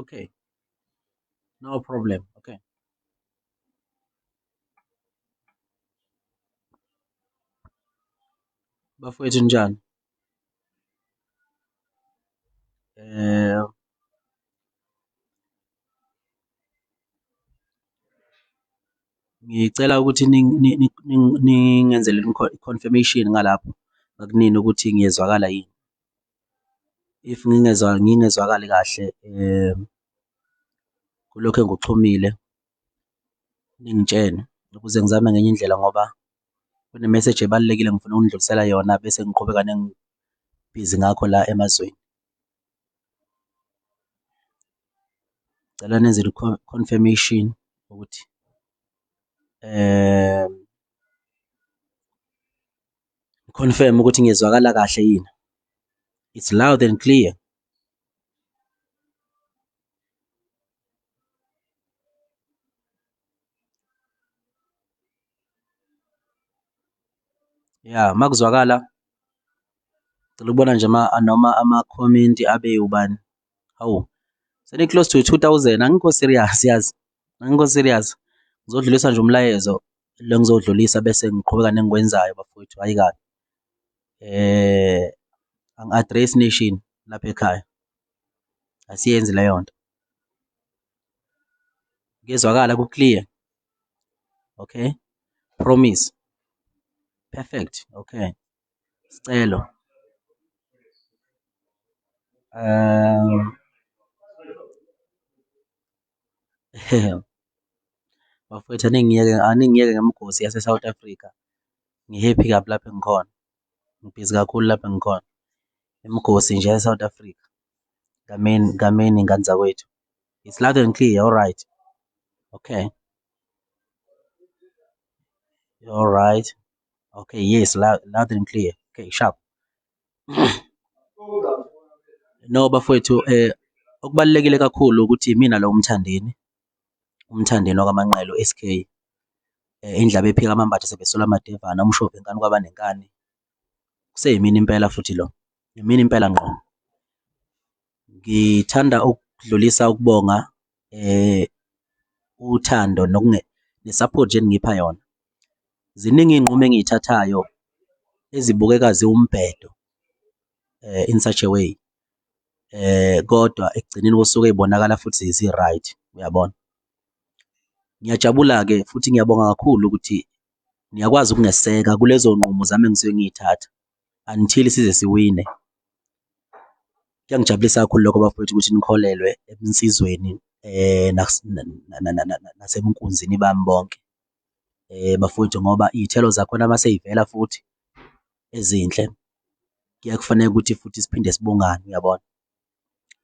okay no problem okay bafowethu njani eh ngicela ukuthi ningenzele i-confirmation ngalapho ngakunini ukuthi ngiyezwakala yini if ngingezwa ngingezwakali kahle kulokhu engikuxhumile ningitshene ukuze ngizame ngenye indlela ngoba kune-message ebalulekile ngifuna ukundlulisela yona bese ngiqhubeka nengibhizi ngakho la emazweni. Ngicela nenze i-confirmation ukuthi . Confirm ukuthi ngiyezwakala kahle yini. It's loud and clear. ya makuzwakala cela ukubona nje ma noma ama-comment abe ubani hawu seni-close to 2000 angikho serious yazi Angikho serious. Ngizodlulisa nje umlayezo lo ngizowudlulisa bese ngiqhubeka nengikwenzayo bafowethu, hhayi kabi. Eh angi-address nation lapha ekhaya. Asiyenzi leyo nto. Kuyezwakala ku-clear. Okay. Promise. Perfect. Okay. Sicelo. Um Bafwethu aningiyeke aningiyeke ngemigosi yase-South Africa, ngi-happy kabi lapho engikhona, ngibhizi kakhulu lapho engikhona. Imigosi nje yase-South Africa, kameni kameni ngane zakwethu. It's loud and clear, alright, okay. Alright, okay, yes, loud loud and clear, okay, sharp. No bafowethu um okubalulekile kakhulu ukuthi imina lo uMthandeni, uMthandeni wakwaManqele u-S_K indlebe ephika amambatha sebesola amadevane umshovi wenkani kwaba nenkani, kuseyimina impela futhi lo, imina impela ngqo. ngithanda ukudlulisa ukubonga eh uthando nokunge nesupport nje ningipha yona ziningi iy'nqumo engiyithathayo ezibukeka ziwumbhedo eh in such a way eh kodwa ekugcineni kosuku ezibonakala futhi zi-right uyabona ngiyajabula-ke futhi ngiyabonga kakhulu ukuthi niyakwazi ukungeseka kulezo nqumo zami engisuke ngiyithatha until size siwine. Kuyangijabulisa kakhulu lokho bafowethu ukuthi nikholelwe ebunsizweni eh nasemkunzini bami bonke eh bafowethu ngoba iy'thelo zakhona uma seyivela futhi ezinhle kuyakufanele ukuthi futhi siphinde sibongane uyabona.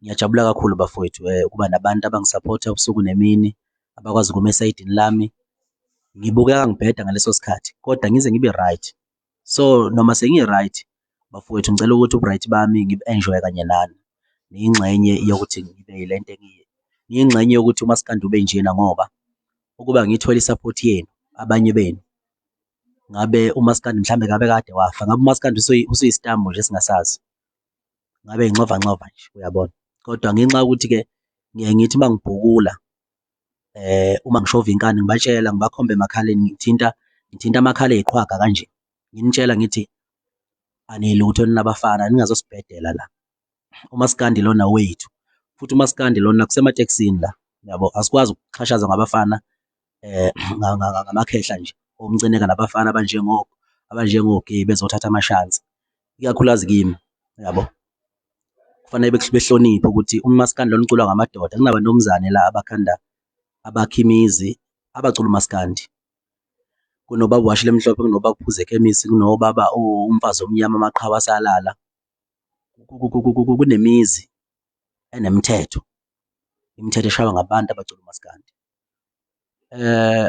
Ngiyajabula kakhulu bafowethu eh, ukuba nabantu abangisaphotha ubusuku nemini abakwazi ukuma esayidini lami. Ngibukeka ngibheda ngaleso sikhathi kodwa ngize ngibe right so noma sengi-right bafowethu ngicela ukuthi ubu-right bami ngibu-enjoye kanye nani ngiyingxenye yokuthi ngibe yile nto engiyiyo ngiyingxenye yokuthi umaskandi ube njena ngoba ukuba ngithole i-support yenu abanye benu ngabe umaskandi mhlawumbe ngabe kade wafa ngabe umaskandi usuyisitambo nje singasazi ngabe nxova nxova nje uyabona kodwa ngenxa yokuthi-ke ngiye ngithi uma ngibhukula uma ngishova inkani ngibatshela ngibakhombe emakhaleni ngithinta ngithinta amakhala eyiqhwaga kanje, nginitshela ngithi anilutho nina bafana ningazosibhedela la. UMaskandi lona wethu futhi uMaskandi lona kusematekisini la yabo, asikwazi ukuxhashazwa ngabafana ngamakhehla nje omcineka nabafana abanjengo abanjengo-gay bezothatha amashansi. ikakhulukazi kimi yabo kufanele behloniphe ukuthi umaskandi lona uculwa ngamadoda kunabantomzane la abakhanda abakha imizi abacula umaskandi kunobaba washile emhlophe kunobaba kuphuza ekhemisi kunobaba umfazi omnyama amaqhawe asalala kunemizi enemithetho imithetho eshaywa ngabantu abacula umaskandi eh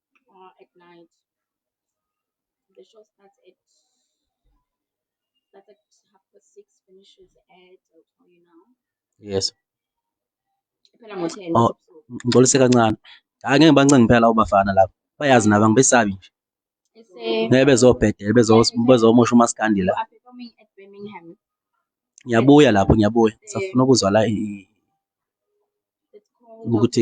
uh, at night. The show starts at starts at half past six, finishes at I'll tell you now. Yes. Iphela ngo ten. Oh, ngixolise kancane. Hayi ngeke bancenga phela labo bafana labo. Bayazi nabo angibesabi nje. Ngeke bezobhedela bezomosha umaskandi la. Ngiyabuya lapho ngiyabuya. Safuna ukuzwa la ukuthi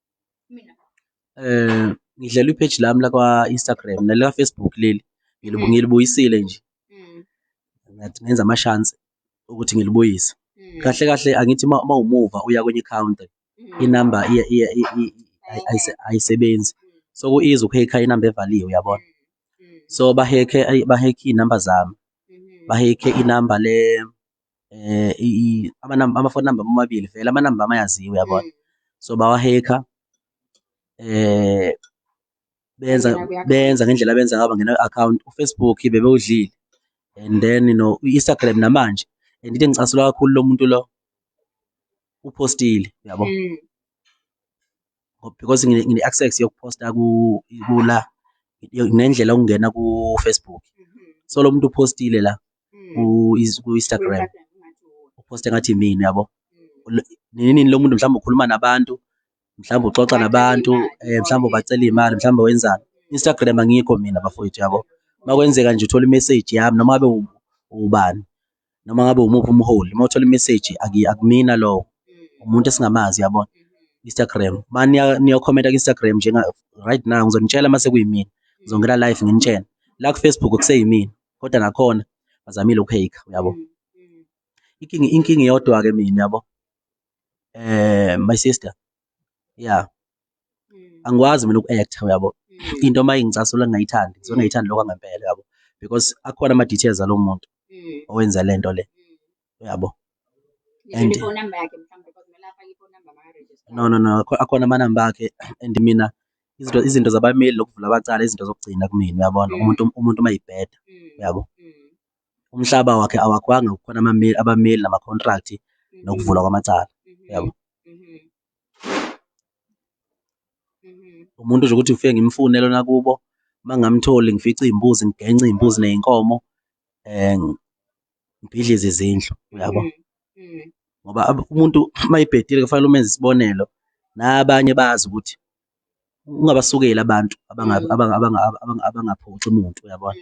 Eh ngidlela ipage lami la kwa Instagram nala Facebook leli ngilubu mm. ngilibuyisile nje. Mm. Ngathi ngenza ama chance ukuthi ngilibuyise. Mm. Kahle kahle angithi uma umuva uya kwenye county mm. inamba iya iya ayisebenzi. So kuiza ukuhekha inamba evaliwe uyabona. Mm. So bahekhe bahekhe inamba zami. Mm-hmm. Bahekhe inamba le eh amanamba ama phone number amabili vele amanamba amayaziwa uyabona so bawa hacker eh benza benza ngendlela benza ngaba ngena account uFacebook bebewudlile and then you know uInstagram namanje and into engicasulwa kakhulu lo muntu lo uphostile uyabo mm. because ngine access yokuposta ku kula nendlela okungena ku Facebook mm-hmm. so lo muntu upostile la mm. ku Instagram uposte ngathi mina yabo mm. nini nini lo muntu mhlawumbe ukhuluma nabantu mhlawumbe uxoxa nabantu eh mhlawumbe ubacela imali mhlawumbe wenzani Instagram angikho mina bafowethu yabo makwenzeka nje uthola imessage yami noma be ubani noma ngabe umuphi umholi uma uthola imeseji akumina lowo umuntu esingamazi yabona Instagram ma niyokhomenta ku-Instagram njenga right now ngizonitshela uma sekuyimina ngizongena live nginitshele la ku-Facebook kuseyimina kodwa nakhona bazamile ukuheyikha uyabo inkinga inkinga iyodwa-ke mina yabo eh my sister yeah angikwazi mina uku-actor uyabo into uma ingicasula ngingayithandi ngizona ngayithandi lokho angempela uyabo because akhona ama-details alo muntu owenza le nto le uyabo and no no no akhona amanamba akhe and mina izinto izinto zabameli lokuvula abacala izinto zokugcina kumina uyabona umuntu umuntu uma yibheda uyabo umhlaba wakhe awakhwanga kukhona abameli nama-contract nokuvulwa kwamacala uyabo umuntu nje ukuthi ngifike ngimfune lona kubo uma ngamtholi ngifice iy'mbuzi ngigence iy'mbuzi ney'nkomo um ngibhidlize izindlu uyabo mm, mm. ngoba umuntu uma ibhedile kufanele umenze isibonelo nabanye bazi ukuthi ungabasukeli abantu mm. abangaphuxi umuntu uyabona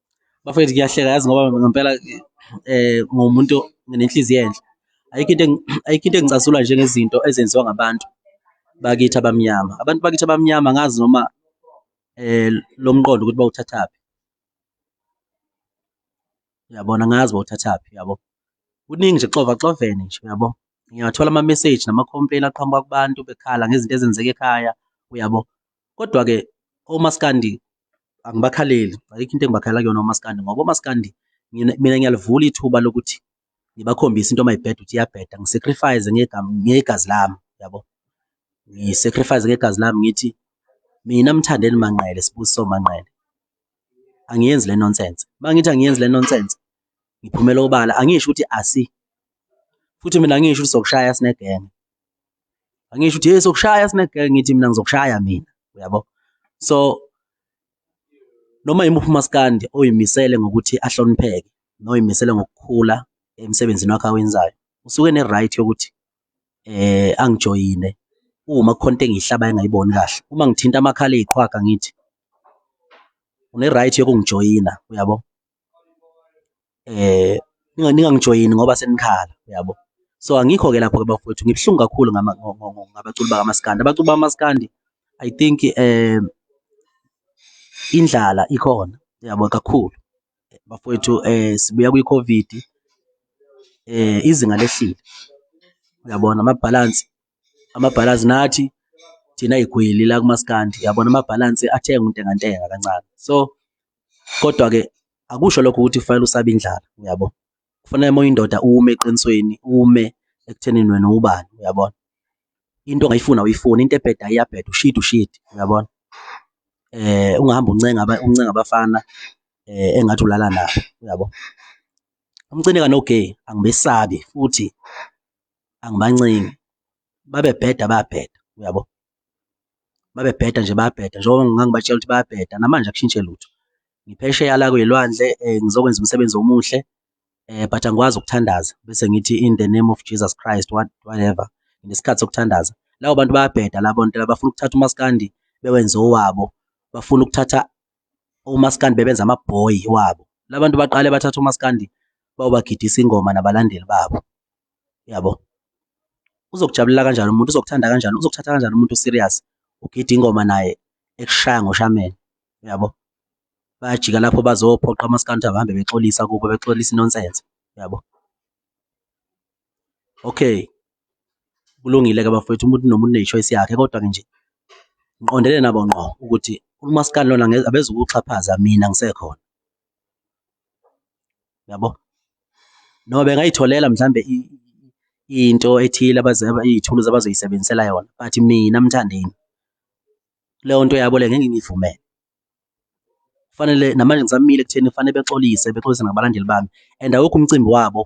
bafethu kuyahleka yazi ngoba ngempela eh ngomuntu nginenhliziyo enhle ayikho into ayikho into engicasula njengezinto ezenziwa ngabantu bakithi abamnyama abantu bakithi abamnyama ngazi noma eh lo mqondo ukuthi bawuthathaphi uyabona ngazi bawuthathaphi yabo kuningi nje xova xovene nje uyabo ngiyathola ama message nama complain aqhamuka kubantu bekhala ngezinto ezenzeka ekhaya uyabo Kodwa-ke omaskandi angibakhaleli, ayikho into engibakhalela kuyona omaskandi ngoba omaskandi mina ngiyalivula ithuba lokuthi ngibakhombise into uma ibheda ukuthi iyabheda, ngisacrifice ngegazi lami, yabo. Ngisacrifice ngegazi lami ngithi mina Mthandeni Manqele, Sibusiso Manqele, angiyenzi le nonsense. Uma ngithi angiyenzi le nonsense, ngiphumela obala, angisho ukuthi asi, futhi mina angisho ukuthi sokushaya sinegenge. angisho ukuthi hey sokushaya sine ngithi mina ngizokushaya mina uyabo so noma yimuphi umaskandi oyimisele ngokuthi ahlonipheke noyimisele ngokukhula emsebenzini wakhe awenzayo usuke ne right yokuthi eh angijoyine uma kukhonto engihlaba engayiboni kahle uma ngithinta amakhala eziqhwaga ngithi une right yokungijoyina uyabo ningangijoyini ngoba senikhala yabo. So, angikho-ke lapho-ke bafowethu, ngibuhlungu kakhulu ngabaculi bakamaskandi. Abaculi bakamaskandi I think indlala ikhona yabo kakhulu bafowethu sibuya kwi-COVID izinga lehlile, uyabona amabhalansi. amabhalansi nathi thina igwili la kumaskandi yabona amabhalansi athenga untengantenga kancane so kodwa-ke akusho lokho ukuthi kufanele usabe indlala uyabo kufanele uma uyindoda ume eqinisweni ume ekuthenini wena ubani uyabona into ongayifuna uyifuna into ebheda iyabheda ushidi ushidi uyabona eh ungahamba uncenga uncenga abafana eh engathi ulala nabo uyabo umcineka no gay angibesabi futhi angibancengi babebheda bayabheda uyabo babebheda nje bayabheda njengoba ngangibatshela ukuthi bayabheda namanje akushintshe lutho ngiphesheya la kwelwandle um eh, ngizokwenza umsebenzi omuhle um but angikwazi ukuthandaza bese ngithi in the name of jesus christ what, whatever ngesikhathi sokuthandaza labo bantu bayabheda labo nto labafuna ukuthatha umaskandi bewenze owabo bafuna ukuthatha omaskandi bebenza amabhoyi wabo labantu baqale bathatha omaskandi bawubagidisa ingoma nabalandeli babo yabo uzokujabulela kanjani umuntu uzokuthanda kanjani uzokuthatha kanjani umuntu serious ugida ingoma naye ekushaya ngoshameni yabo bayajika lapho bazophoqa amaskandi abahambe bexolisa kubo bexolisa inonsense yabo Okay, kulungile-ke bafowethu umuntu nomuntu une-choice yakhe kodwa-ke nje ngiqondene nabo ngqo ukuthi umaskandi lona abezukuxhaphaza mina ngisekhona yabo noma bengayitholela mhlambe into ethile iy'thuluzi abazoyisebenzisela yona but mina mthandeni leyo nto yabo le ngeke ngiyivumele Kufanele namanje ngisamile ekutheni kufanele bexolise, bexolise ngabalandeli bami and awukho umcimbi wabo.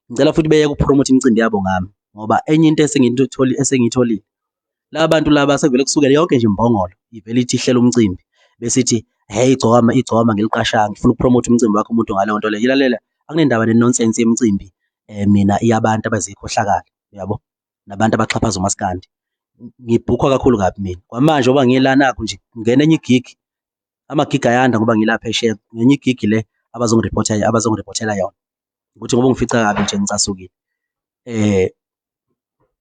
Ngicela futhi beyeke ukupromotha imicimbi yabo ngami ngoba enye into esengiyitholile esengiyitholile laba bantu laba sekuvele kusukele yonke nje imbongolo ivele ithi ihlela umcimbi besithi hey igcokama igcokama ngiliqashanga ngifuna ukupromotha umcimbi wakho umuntu ngaleyo nto leyo ilalela akunendaba nenonsense yemicimbi eh mina iyabantu abazikhohlakala uyabo nabantu abaxhaphaza umaskandi ngibhukhwa kakhulu kabi mina kwamanje oba ngiyelanakho nje ngena enye igig amagig ayanda ngoba ngilapha esheya ngenye igig le abazongiripotha abazongiriphothela yona ukuthi ngoba ngifica kabi nje ngicasukile eh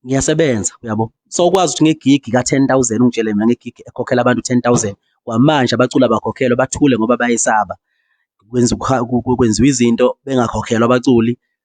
ngiyasebenza uyabo so ukwazi ukuthi ngegigi ka-10000 ungitshele mina ngegigi ekhokhela abantu 10000 kwamanje abacula bakhokhelwe bathule ngoba bayesaba kwenziwa izinto bengakhokhelwa abaculi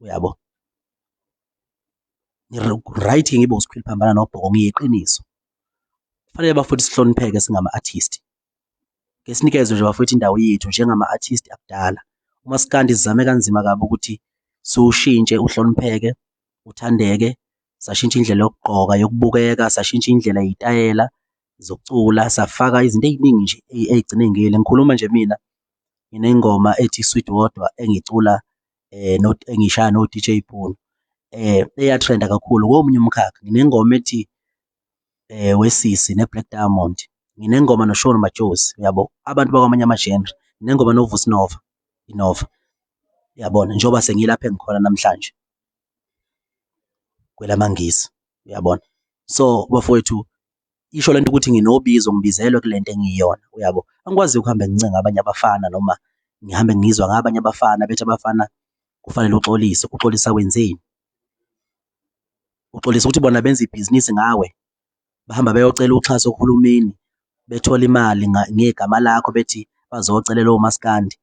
uyabo right ngibe usikhwili phambana nobhoko ngiyiqiniso kufanele bafowethu sihlonipheke singama-artist ke sinikezwe nje bafowethu indawo yethu njengama-artist akudala umasikandi sizame kanzima kabi ukuthi siwushintshe uhlonipheke uthandeke sashintsha indlela yokugqoka yokubukeka sashintsha indlela yitayela zokucula safaka izinto eziningi nje ezigcine ngile ngikhuluma nje mina nginengoma ethi sweet wodwa engicula eh not engishaya no DJ Bono eh eyatrenda kakhulu komunye umkhakha nginengoma ethi eh wesisi ne Black Diamond nginengoma no Sean Majozi uyabo abantu bakwamanye ama genre nginengoma no Vusnova Inova uyabona njengoba sengilapha engikhona namhlanje kwelamangisi uyabona so bafowethu isho lento ukuthi nginobizo ngibizelwe kule nto engiyiyona uyabo angikwazi ukuhambe ngincenga abanye abafana noma ngihambe ngizwa ngabanye abafana bethi abafana kufanele uxolise uxolisa wenzeni uxolisa ukuthi bona benza ibhizinisi ngawe bahamba beyocela uxhaso kuhulumeni bethola imali ngegama lakho bethi bazocelela omaskandi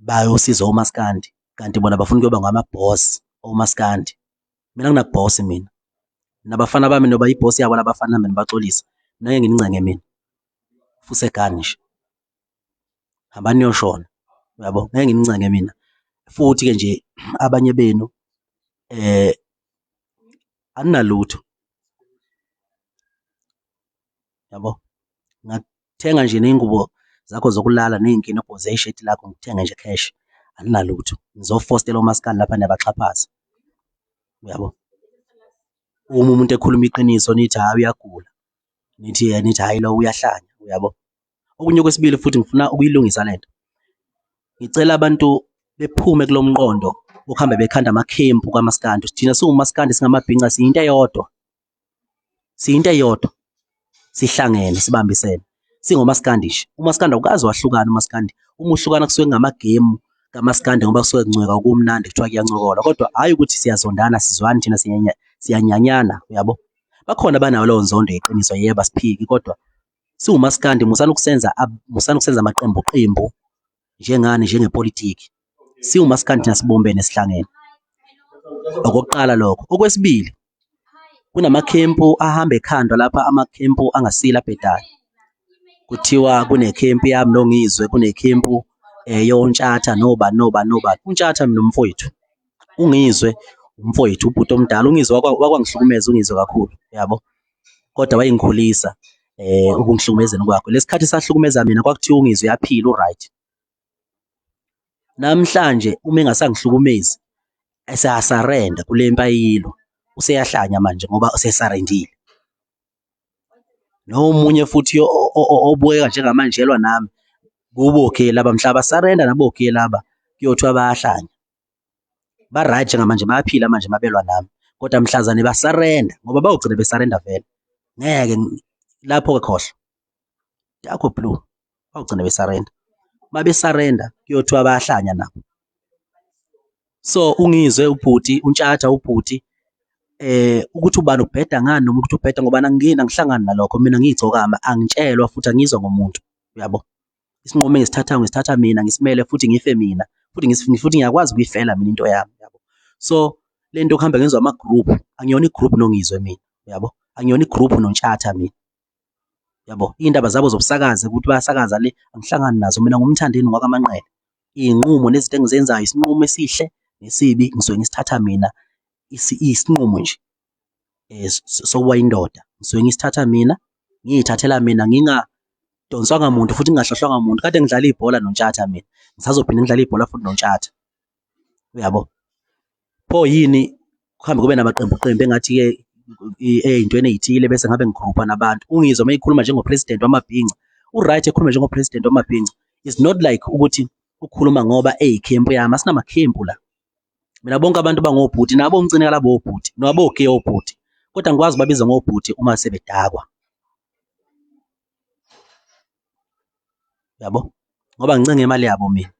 bayosiza omaskandi kanti bona bafuna ukuyoba ngama-boss omaskandi Mina nginabhosi mina. Nabafana bami noba ibhosi yabo labafana mina baxolisa. Mina ngeke nginincenge mina. Fuse gani nje. Hambani niyoshona. Uyabo? Ngeke nginincenge mina. Futhi ke nje abanye benu eh anginalutho. yabo ngathenga nje ney'ngubo zakho zokulala ney'nkinobho zesheti lakho ngithenge nje cash aninalutho nizofostela omaskandi lapha niyabaxhaphaza uyabo uma umuntu ekhuluma iqiniso nithi hhayi uyagula nithi eh, nithi hhayi lo uyahlanya uyabo okunye kwesibili futhi ngifuna ukuyilungisa le nto ngicela abantu bephume kulo mqondo ukuhambe bekhanda amakhempu kamaskandi thina siwumaskandi singamabhinca siyinto eyodwa siyinto eyodwa sihlangene sibambisene singomaskandi nje umaskandi awukazi wahlukana umaskandi uma uhlukana kusuke kungamagemu kamaskandi ngoba kusuke kuncweka kumnandi kuthiwa kuyancokola kodwa hhayi ukuthi siyazondana sizwani thina siyanyanyana uyabo bakhona banawo leyo nzondo yeqiniso yebo asiphiki kodwa siwumaskandi musani ukusenza musani ukusenza amaqembu qembu njengani njengepolitiki siwumaskandi thina sibumbene sihlangene okokuqala lokho okwesibili kunamakhempu ahamba ekhandwa lapha amakhempu angasile abhedayo kuthiwa kunekhempu yami nongizwe kunekhempu eh, yontshatha noba noba noba untshatha mina umfowethu ungizwe umfowethu ubhuti omdala ungizwe wakwa- wakwangihlukumeza ungizwe kakhulu yabo kodwa wayengikhulisa eh ukungihlukumezeni kwakho lesikhathi sahlukumeza mina kwakuthiwa ungizwe yaphila uright namhlanje uma engasangihlukumezi eseyasarenda kule mpayilo useyahlanya manje ngoba usesarendile nomunye futhi obukeka njengamanjelwa nami kubo ke laba mhlaba sarenda nabo ke laba kuyothiwa bayahlanya ba right ngamanje bayaphila manje mabelwa nami kodwa mhlazane ba surrender ngoba bawugcina be surrender vele ngeke lapho ke khohlo yakho blue bawugcina be surrender babe surrender kuyothiwa bayahlanya nabo so ungizwe ubhuti untshatha ubhuti eh ukuthi ubani ubheda ngani noma ukuthi ubheda ngoba angingeni angihlangani nalokho mina ngiyigcokama angitshelwa futhi angizwa ngomuntu uyabo isinqumo engisithathayo ngisithatha mina ngisimele futhi ngife mina futhi futhi ngiyakwazi ukuyifela mina into yami yabo so le nto okuhamba ngizwa ama-group angiyona i-group nongizwe mina yabo angiyona i-group nontshatha mina yabo iy'ndaba zabo zobusakazi ukuthi bayasakaza le angihlangani nazo mina ngumthandeni ngwakamanqele iy'nqumo nezinto engizenzayo isinqumo esihle nesibi ngisuke ngisithatha mina isinqumo nje eh, sokuba indoda ngisuke ngisithatha mina ngiyithathela mina ngingadonswanga muntu futhi ngingahlohlwanga muntu kade ngidlala ibhola nontshatha mina ngisazophinde ngidlala ibhola futhi nontshatha uyabo pho yini kuhambe kube namaqembu qembu engathi ke eyintweni ezithile bese ngabe ngigrupha nabantu ungizwa uma ikhuluma njengo president wamabhinca u right ekhuluma njengo president wamabhinca is not like ukuthi ukhuluma ngoba eyikhempu yami asinamakhempu la mina bonke abantu bangobhuti nabo ngicine kalabo obhuti nabo ke obhuti kodwa ngikwazi babiza ngobhuti uma sebedakwa yabo ngoba ngincenge imali yabo mina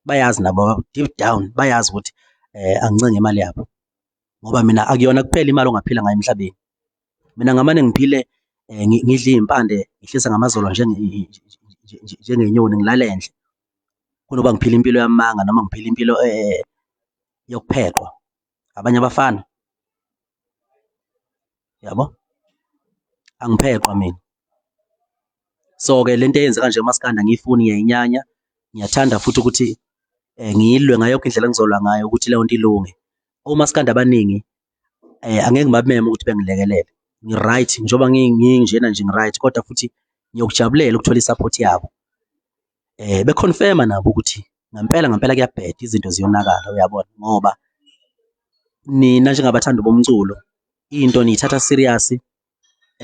bayazi nabo deep down bayazi ukuthi eh angincenge imali yabo ngoba mina akuyona kuphela imali ongaphila ngayo emhlabeni mina ngamane ngiphile eh, ngidla izimpande ngihlisa ngamazolo njengenyoni ngilale endle kunoba ngiphile impilo yamanga noma ngiphile impilo eh, yokuphekwa abanye abafana yabo angiphekwa mina so ke lento eyenzeka nje umaskanda ngiyifuni ngiyayinyanya ngiyathanda futhi ukuthi eh, ngiyilwe ngayo yonke indlela engizolwa ngayo ukuthi leyo nto ilunge omaskanda abaningi eh, angeke ngibameme ukuthi bengilekelele ngi-right njengoba nginjena nje ngi-right kodwa futhi ngiyokujabulela ukuthola i-support yabo eh beconfirma nabo ukuthi ngempela ngempela kuyabheda izinto ziyonakala uyabona ngoba nina njengabathandi bomculo into niyithatha serious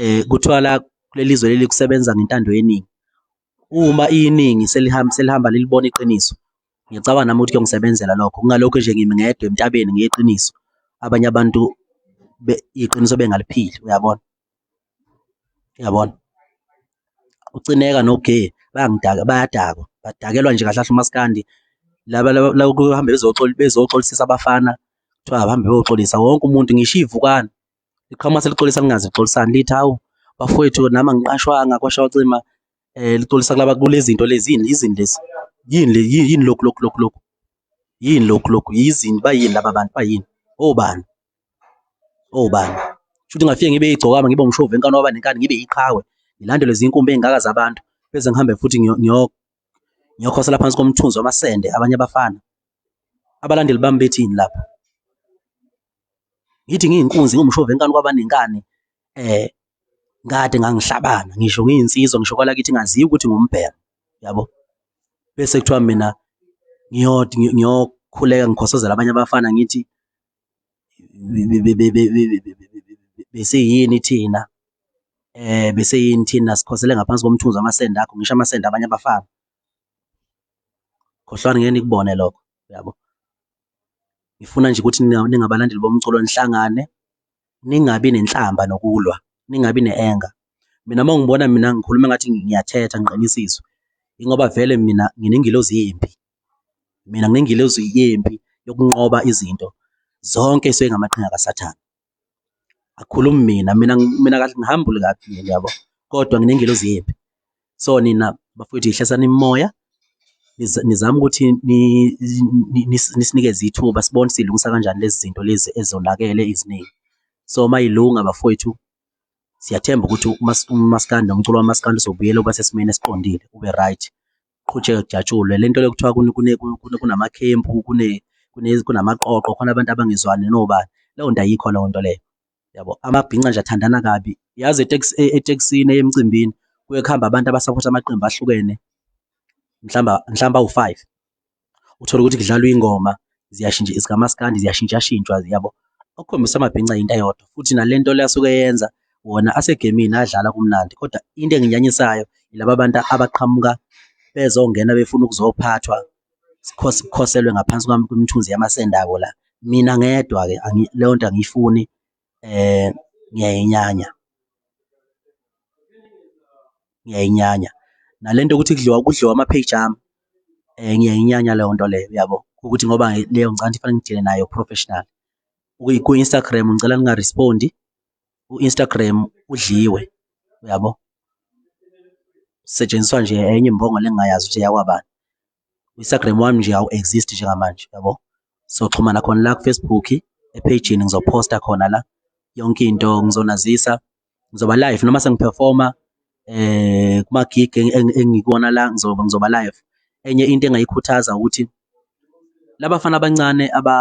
eh kuthiwa la kulelizwe leli kusebenza ngentando yeningi Uma iningi selihamba selihamba lilibona iqiniso, ngicabanga nami ukuthi kuyongisebenzela lokho, kungalokhu nje ngimi ngedwa entabeni ngiyi qiniso, abanye abantu iqiniso bengaliphili, uyabona? Uyabona? UCineka noGee bayangidaka, bayadakwa, badakelwa nje kahle kahle umaskandi, laba laba kuhambe bezoxolisisa abafana, kuthiwa abahambe beyoxolisa, wonke umuntu ngisho iy'vukane. liqhamuka selixolisa lingazi lixolisani lithi hawu bafowethu nami angiqashwanga kwashawa cima eh lixolisa kulaba kulezinto lezini izini lezi yini le yini lokhu lokhu lokhu lokhu yini lokhu lokhu yizini bayini laba bantu bayini obani obani shuthi ngafike ngibe igcokama ngibe umshovu enkani waba nenkani ngibe iqhawe ngilandelwe zinkumbi ezingaka zabantu bese ngihambe futhi ngiyokhosela phansi komthunzi wamasende abanye abafana abalandeli bami bethini lapho ngithi ngiyinkunzi ngumshova enkani kwabanengane eh ngade ngangihlabana ngisho ngiyinsizwa ngisho kwala kithi ngaziwa ukuthi ngumbhero yabo bese kuthiwa mina ngiyodi ngiyokhuleka ngikhosozela abanye abafana ngithi bese yini thina eh bese yini thina sikhosele ngaphansi komthunzi wamasende akho ngisho amasende abanye abafana khohlwani ngeke nikubone lokho yabo ngifuna nje ukuthi ningabalandeli bomculo nihlangane ningabi nenhlamba nokulwa ningabi ne-anger mina uma ngibona mina ngikhuluma ngathi ngiyathetha ngiqinisizwe ingoba vele mina nginengilozi yimpi mina nginengilozi yimpi yokunqoba izinto zonke esuke ngamaqhinga kasathane akhulumi mina mina mina kahle ngihambule kabi mina yabo kodwa nginengelozi yephi so nina bafowethu yihlasani imoya nizama ukuthi nisinikeze ithuba sibone silungisa kanjani lezi zinto lezi ezonakele iziningi so uma ilunga bafowethu siyathemba ukuthi umaskandi nomculo wamaskandi uzobuyela uba sesimeni esiqondile ube right kuqhutshekwe kujatshulwe. Le nto le kuthiwa kunamakhempu, kunamaqoqo, khona abantu abangezwani nobani, leyo nto ayikho leyo nto leyo, yabo. Amabhinca nje athandana kabi. Yazi etekisini eya emcimbini kuye kuhambe abantu abasaphotha amaqembu ahlukene, mhlawumbe, mhlawumbe awu-five. uthole ukuthi kudlalwa ingoma ziyashintsha zikamaskandi ziyashintshashintshwa yabo okukhombisa amabhinca yinto eyodwa futhi nale nto le asuke yenza wona asegemini adlala kumnandi kodwa into enginyanyisayo yilaba bantu abaqhamuka bezongena befuna ukuzophathwa sikhoselwe ngaphansi kwami kwemithunzi yamasendako la mina ngedwa-ke leyo nto angiyifuni um ngiyayinyanya, ngiyayinyanya nale nto yokuthi kudliwa kudliwa ama-page ami ngiyayinyanya leyo nto leyo uyabo, ukuthi ngoba leyo ngicabanga ukuthi kufanele ngidile nayo professional. Kwi-Instagram ngicela ninga-respond-i, u-Instagram udliwe uyabo, kusetshenziswa nje enye imbongolo engingayazi ukuthi eyakwabani. Instagram wami nje awu exist njengamanje yabo so xhumana khona la ku Facebook epage ngizoposta khona la yonke into ngizonazisa ngizoba live noma sengiperforma eh kuma gig engikona la ngizoba ngizoba live enye into engayikhuthaza ukuthi labafana abancane aba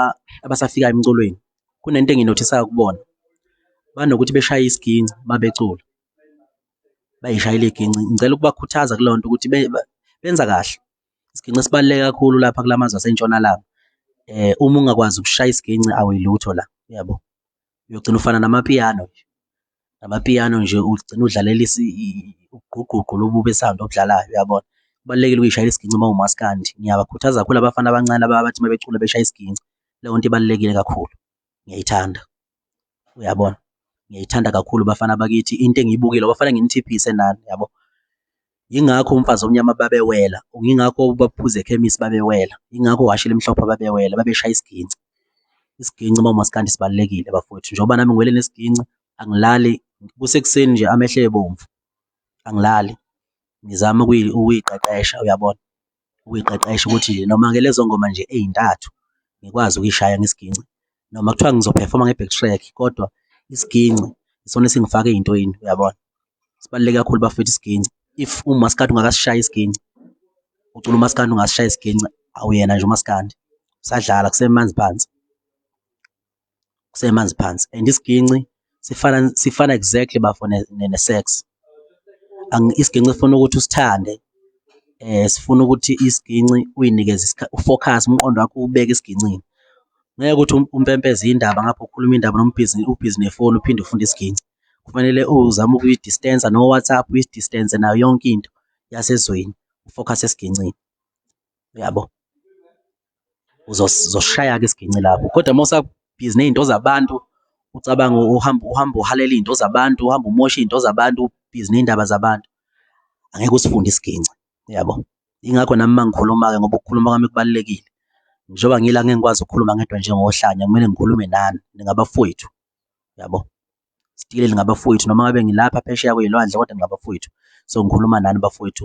abasafika emculweni kunento enginothisayo kubona banokuthi beshaya isiginci mabecula bayishaya iligi. Ngicela ukubakhuthaza kule nto ukuthi benza kahle. Isiginci sibaluleke kakhulu lapha kula mazwe asentshonalanga. Um uma ungakwazi ukushaya isiginci awuyilutho la, uyabo? Uyogcina ufana namapiyano nje, namapiyano nje ugcine udlalela ugqugqugqu lobu be-sound obudlalayo, uyabona? Kubalulekile ukuyishayela isiginci uma uwumaskandi. Ngiyabakhuthaza kakhulu abafana abancane laba abathi uma becula beshaya isiginci, leyo nto ibalulekile kakhulu, ngiyayithanda. uyabona ngiyayithanda kakhulu bafana bakithi into engiyibukile bafana nginithiphise nani yabo yingakho umfazi omnyama babewela ngingakho baphuze ekhemisi babewela yingakho washile emhlophe babewela babeshaya isiginci isiginci uma umaskandi sibalulekile bafowethu njengoba nami ngiwele nesiginci angilali kusekuseni nje amehlo ebomvu angilali ngizama ukuyiqeqesha uyabona ukuyiqeqesha ukuthi noma-ke lezo ngoma nje ey'ntathu ngikwazi ukuyishaya ngesigingci noma kuthiwa ngizophefoma nge-back track kodwa isigingci isona esingifaka ey'ntweni uyabona? Sibaluleke kakhulu bafwethu isigingci, if umaskandi ungakasishayi isigingci, ucula umaskandi ungasishayi isigingci awuyena nje umaskandi, usadlala kusemanzi phansi. kusemanzi phansi and isiginci sifana sifana exactly bafo ne, ne, ne sex isiginci sifuna ukuthi usithande eh sifuna ukuthi isiginci uyinikeze ufocus umqondo wakho ubeke isigincini ngeke ukuthi um, umpempeze indaba ngapho ukhuluma indaba nombhizi ubhizi nefoni uphinde ufunde isiginci kufanele uzame ukuyi-distance no WhatsApp uyi-distance nayo yonke into yasezweni ufocus esigincini uyabo uzoshaya-ke isiginci lapho kodwa uma usabhizi ney'nto zabantu ucabanga uhamba uhamba uhalela iy'nto zabantu uhamba umosha iy'nto zabantu ubhizi ney'ndaba zabantu angeke usifunde isiginci yabo ingakho nami uma ngikhuluma-ke ngoba ukukhuluma kwami kubalulekile njengoba ngila ngeke ngikwazi ukukhuluma ngedwa njengohlanya kumele ngikhulume nani ningabafowethu yabo sitile lingabafowethu noma ngabe ngilapha phesheya kwey'lwandle kodwa ngingabafowethu so ngikhuluma nani bafowethu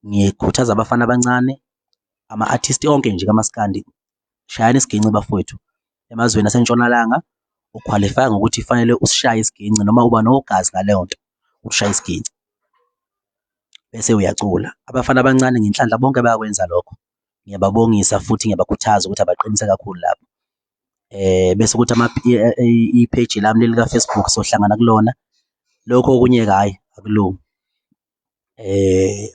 Ngikhuthaza abafana abancane, ama-artist onke nje kamaskandi, shayani isiginci bafowethu. Emazweni aseNtshonalanga ukhwalifaya ngokuthi kufanele usishaye isiginci noma uba nogazi ngaleyo nto, ushaya isiginci bese uyacula. Abafana abancane ngenhlanhla bonke bayakwenza lokho. Ngiyababongisa futhi ngiyabakhuthaza ukuthi abaqinise kakhulu lapho. Bese kuthi i-page lami leli ka-Facebook sohlangana kulona. Lokho okunye-ke hhayi akulungi.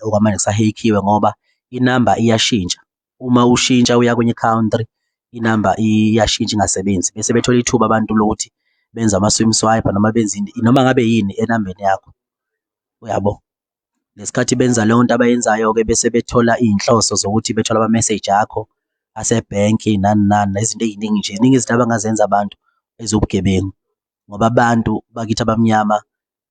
okwamanje kusahekhiwe ngoba inamba iyashintsha, uma ushintsha uya kwenye i-country inamba iyashintsha ingasebenzi bese bethola ithuba abantu lokuthi benze ama-swim swipe noma benze ini noma ngabe yini enambeni yakho, uyabo? Ngesikhathi benza leyo nto abayenzayo-ke bese bethola iy'nhloso zokuthi bethole ama-message akho asebhenki nani nani nezinto ey'ningi nje, ziningi izinto abangazenza abantu eziwubugebengu ngoba abantu bakithi abamnyama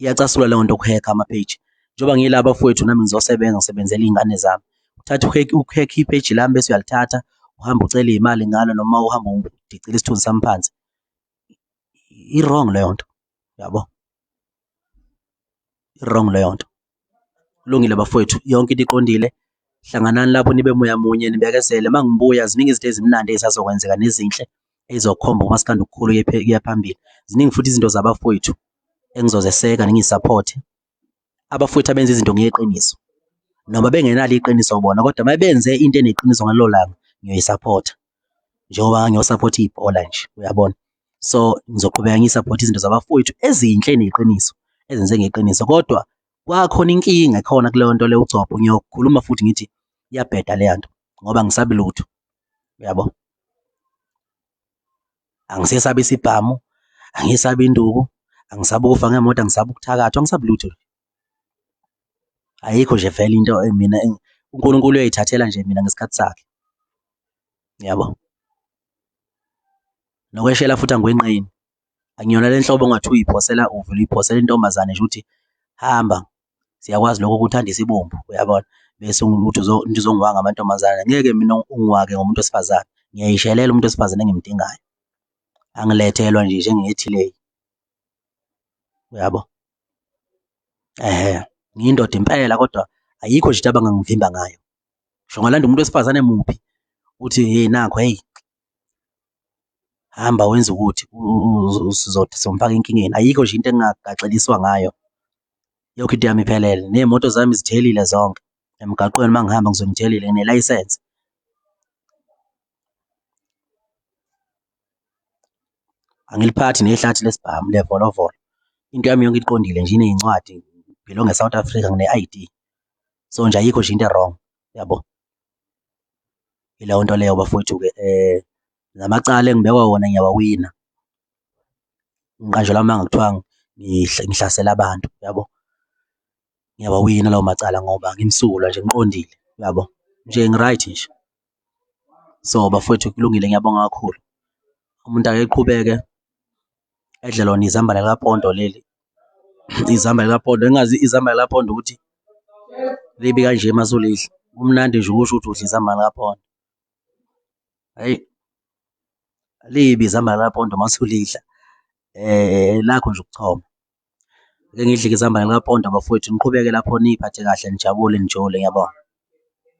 iyacasula leyo nto ukuhekha ama-page njengoba ngiyila bafowethu nami ngizosebenza ngisebenzela iy'ngane zami uthatha ukhekhe i-page lami bese uyalithatha uhambe ucele iy'mali ngalo noma uhambe udicile isithunzi sami phansi i-wrong leyo nto yabo i-wrong leyo nto Kulungile bafowethu, yonke into iqondile. Hlanganani lapho nibe moya munye, nibekezele. Uma ngibuya, ziningi izinto ezimnandi ezisazokwenzeka nezinhle ezizokhomba umaskandi okukhulu kuya phambili. Ziningi futhi izinto zabafowethu engizozeseka ningisaphothe. Abafowethu abenza izinto ngeqiniso noma bengenalo iqiniso bona, kodwa uma benze into eneqiniso ngalelo langa ngiyoyisaphotha. njengoba ngiyosaphotha ibhola nje uyabona. So, ngizoqhubeka ngisaphothe izinto zabafowethu ezinhle neqiniso ezenze ngeqiniso kodwa kwakhona inkinga ekhona kuleyo nto leyo ugcobho ngiyokhuluma futhi ngithi iyabheda leya nto ngoba ngisabi lutho uyabo. Angisesabi isibhamu, angisabi induku, angisabi ukufa ngemoto, angisabi ukuthakathwa, angisabi lutho. Ayikho nje vele into mina uNkulunkulu uyayithathela nje mina ngesikhathi sakhe. Yabo? Nokweshela futhi angikwenqeni. Angiyona le nhlobo ongathi uyiphosela uvele uyiphosela intombazane nje ukuthi hamba siyakwazi lokho ukuthandisa ibombu uyabona bese uthi uzongiwanga amantombazane ngeke mina ungiwake ngomuntu wesifazane ngiyayishelela umuntu wesifazane engimdingayo angilethelwa nje njengethile uyabo ehe ngiyindoda impela kodwa ayikho nje into abangangivimba ngayo ngisho ngalanda umuntu wesifazane muphi uthi hey nakho hey hamba wenza ukuthi uzothi somfaka enkingeni ayikho nje into engagaxeliswa ngayo yonke into yami iphelele ney'moto zami zithelile zonke emgaqweni uma ngihamba ngizobe ngitshelile nginelayisense. Angiliphathi nehlathi lesibhamu levolovolo. Into yami yonke iqondile nje iney'ncwadi ngibhilonge e-South Africa ngine-I_D. So nje ayikho nje into e-wrong yabo. Ileyo nto leyo bafowethu-ke namacala engibekwa wona ngiyawawina. Ngiqanjelwa amanga kuthiwa ngihlasela abantu yabo. ngiyawawina lawo macala ngoba ngimsulwa nje ngiqondile uyabo nje ngi-right nje so bafowethu kulungile ngiyabonga kakhulu umuntu akeqhubeke edle lona izambane likapondo leli izambane likapondo engazi izambane likapondo ukuthi libi kanje masulidla kumnandi nje ukusho ukuthi udla izambane likapondo hayi libi izambane likapondo masulidla eh lakho nje ukuchoma Ake ngidlike izambane likapondo bafowethu niqhubeke lapho niyiphathe kahle nijabule nijole. Ngiyabonga.